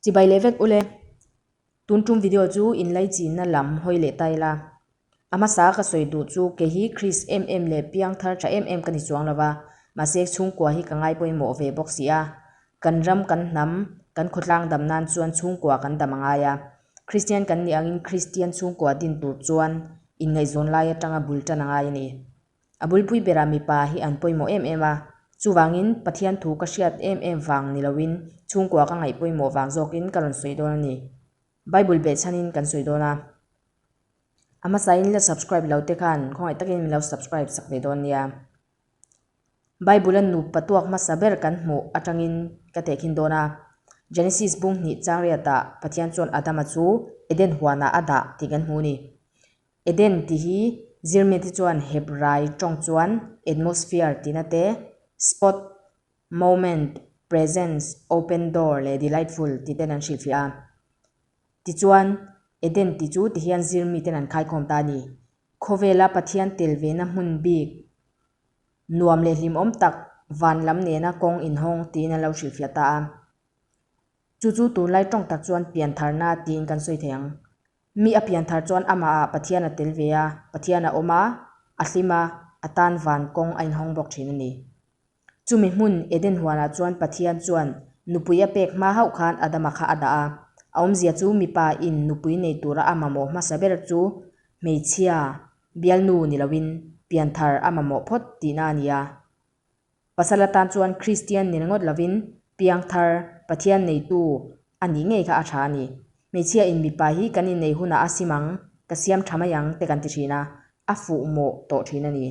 Chibai leh vek ule. Tun tum video chu inlei chinna lam hawi leh tai la. A hmasa ka sawi duh chu kei hi Christ em em leh piang thar tha em em ka ni chuang lo va, mahse chhungkua hi ka ngaipawimawh ve bawk si a. Kan ram kan hnam, kan khawtlang dam nan chuan chhungkua kan dam a ngai a. Kristian kan nih angin Kristian chhungkua din tur chuan inngaihzawn lai atanga bul tan a ngai a ni. A bulpui berah mipa hi an pawimawh em em a, chuvangin Pathian thu ka hriat em em vang ni loin chhungkua ka ngaih pawimawh vang zawkin ka rawn sawi dawn a ni. Bible beh chhanin kan sawi dawn a. A hmasain la subscribe lo te khan khawngaih takin min lo subscribe sak ve dawn nia. Bible a nup patuak hmasa ber kan hmuh atangin ka tehkhin dawn a. Genesis bunghnih changriatah Pathian chuan Adama chu Eden huanah a dah tih kan hmu a ni. Eden tih hi Zirmite chuan Hebrai tawng chuan atmosphere tih nate, spot, moment, presence, open door leh delightful tih ten an hrilhfiah a. Tichuan, Eden tih chu ti hian Zirmi ten an khaikhawm ta a ni. Khawvela Pathian tel vena hmun bik, nuam leh hlimawm tak, van lam nena kawng inhawng tiin an lo hrilhfiah ta a. Chu chu tunlai tawng tak chuan piantharna tiin kan sawi thei ang. Mi a pian thar chuan amahah Pathian a tel ve a, Pathian a awm a, a hlim a, a tan van kawng a inhawng bawk thin a ni. Chumi hmun Eden huanah chuan Pathian chuan nupui a pek hma hauh khan Adama kha a dah a. A awmzia chu mipa in nupui nei tura a mamawh hmasa ber chu hmeichhia bialnu ni loin pian thar a mamawh phawt tihna a ni a. Pasal atan chuan Kristian nel ngawt lovin piang thar, Pathian neitu a nih ngei kha a tha a ni. Hmeichhia in mipa hi kan innei hunah a sim ang, ka siam tha mai ang te kan ti thin a, a fuh mawh tawh thin a ni.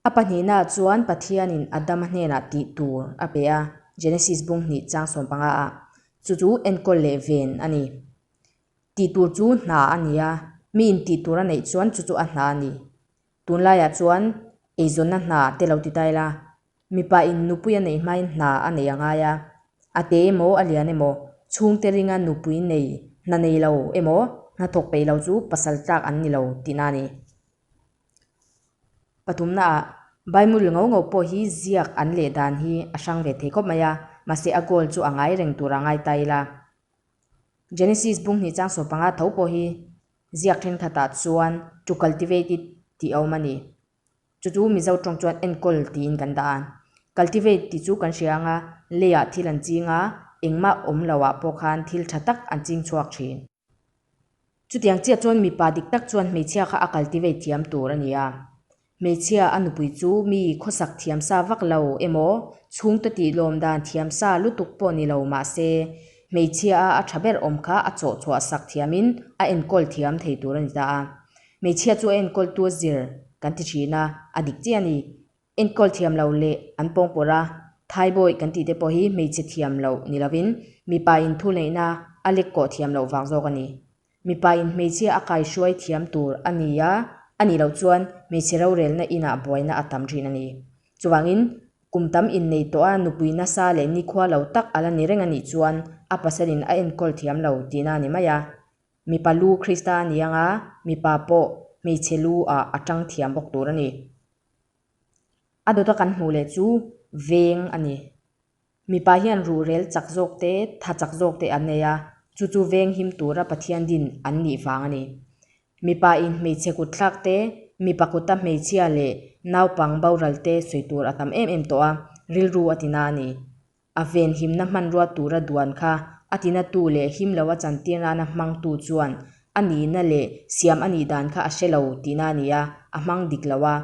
A pahnihnaah chuan Pathianin Adama hnenah tih tur a pe a, Genesis bung hnih chang sawm panga ah. Chu chu enkawl leh ven a ni. Tih tur chu hna a ni a, mi in tih tur a neih chuan chu chu a hna a ni. Tunlaiah chuan eizawnna hna te lo ti ta ila, mipa in nupui a nei hmain hna a nei a ngai a, a te emaw a lian emaw, chhungte ringa nupui nei, hna nei lo emaw hna thawk peih lo chu pasal tlak an ni lo tihna a ni. Pathumnaah, Bible ngo ngo pawh hi ziak an leh dan hi a hrang ve thei khawp mai a, mahse a goal chu a ngai reng tur a ngai ta ila. Genesis bunghnih changsaw panga tho pawh hi Ziak thengthatah chuan to cultivate it tih a awm a ni. Chu chu Mizo tawng chuan enkawl tiin kan dah a. Cultivate tih chu kan hria anga leiah thil an ching a, engmah awm loah pawh khan thil tha tak an ching chhuak thin. Chutiang chiah chuan mipa dik tak chuan hmeichhia kha a cultivate thiam tur a ni a. Hmeichhia a nupui chu mi khawsak thiam sa vak lo emaw, chhungte tihlawm dan thiam sa lutuk pawh ni lo mahse, hmeichhia-a a tha ber awm kha a chawh chhuah sak thiamin a enkawl thiam thei tur a ni ta a. Hmeichhia chu a enkawltu zir kan ti thin a, a dik chiah a ni. Enkawl thiam lo leh an pawngpawrha thaibawi kan tih te pawh hi hmeichhe thiam loh ni lovin, mipa inthulneihna a lekawh thiam loh vak zawk a ni. Mipa in hmeichhia a kaihruai thiam tur a ni a, a nih loh chuan hmeichhe rorelna inah buaina a tam rin a ni. Chuvangin, kum tam innei tawh a nupui nasa leh nikhua lo tak a la ni reng a nih chuan a pasalin a enkawl thiam lo tihna a ni mai a. Mipa lu Krista a ni anga mipa pawh hmeichhe lu ah a ṭang thiam bawk tur a ni. A dawta kan hmuh leh chu veng a ni. Mipa hian ruhrel chak zawk te, tha chak zawk te a nei a, chu chu veng him tura Pathian din an nih vang a ni. Mipa in hmeichhe kut thlak te, mipa kuta hmeichhia leh naupang boral te sawi tur a tam em em tawh a, rilru a tina a ni. A ven himna hmanrua tura duan kha a tina tu leh him lo a chantir nana hmang tu chuan A nihna leh siam a nih dan kha a hre lo tihna a ni a, a hmang dik lo a.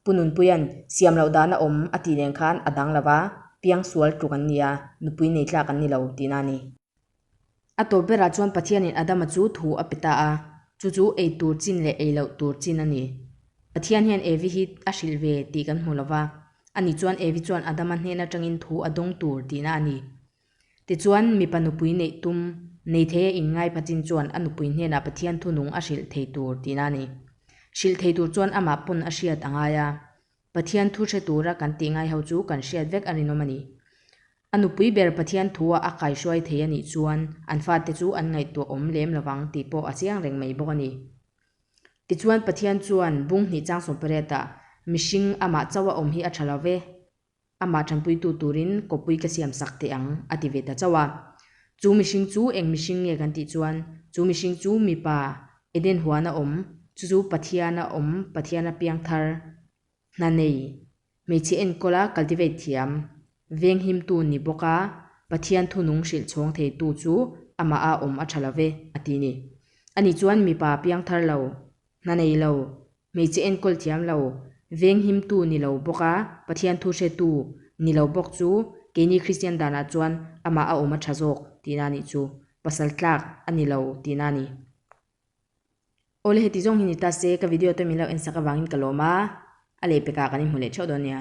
Pu Nunpuia'n siam loh dan a awm a tih nen khan a dang lo va, piang sual tluk an ni a, nupui nei tlak an ni lo tihna a ni. A tawp berah chuan Pathianin Adama chu thu a pe ta a, chu chu ei tur chin leh ei loh tur chin a ni. Pathian hian Evi hi a hrilh ve tih kan hmu lo va, a ni chuan Evi chuan Adama hnen atangin thu a dawng tur tihna a ni. Tichuan, mipa nupui neih tum, nei thei a inngaipha chin chuan a nupui hnenah Pathian thunung a hrilh thei tur tiin a ni. Hrilh thei tur chuan amah pawn a hriat a ngai a. Pathian thu hre tura kan tih ngaiho chu kan hriat vek a rinawm a ni. A nupui ber Pathian thua a kaihruai thei a nih chuan an fate chu an ngaihtuah awm lem lovang tih pawh a chiang reng mai bawk a ni. Tichuan, Pathian chuan bunghnihchang sawmpariat ah mihring amah chauh a awm hi a tha lo ve. amah tanpuitu turin kawppui ka siam sak teh ang, a ti ve ta chauh a. Chu mihring chu eng mihring nge kan tih chuan, chu mihring chu mipa Eden huana awm, chu chu Pathiana awm, Pathiana piang thar, hna nei, hmeichhe enkawla cultivate thiam, venghimtu ni bawk a, Pathian thunung hrilh chhawng theitu chu amah a awm a tha lo ve, a ti ni. Ani chuan mipa piang thar lo, hna nei lo, hmeichhe enkawl thiam lo, venghimtu ni lo bawka Pathian thu hretu ni lo bawk chu keini Kristian danah chuan amah a awm a tha zawk tihna nih chu pasal tlak a ni lo tihna a ni. Awle heti zawng hi ni ta se ka video tum in lo ensak avangin ka lawm a, a leh pekah kan inhmu leh theuh dawn nia.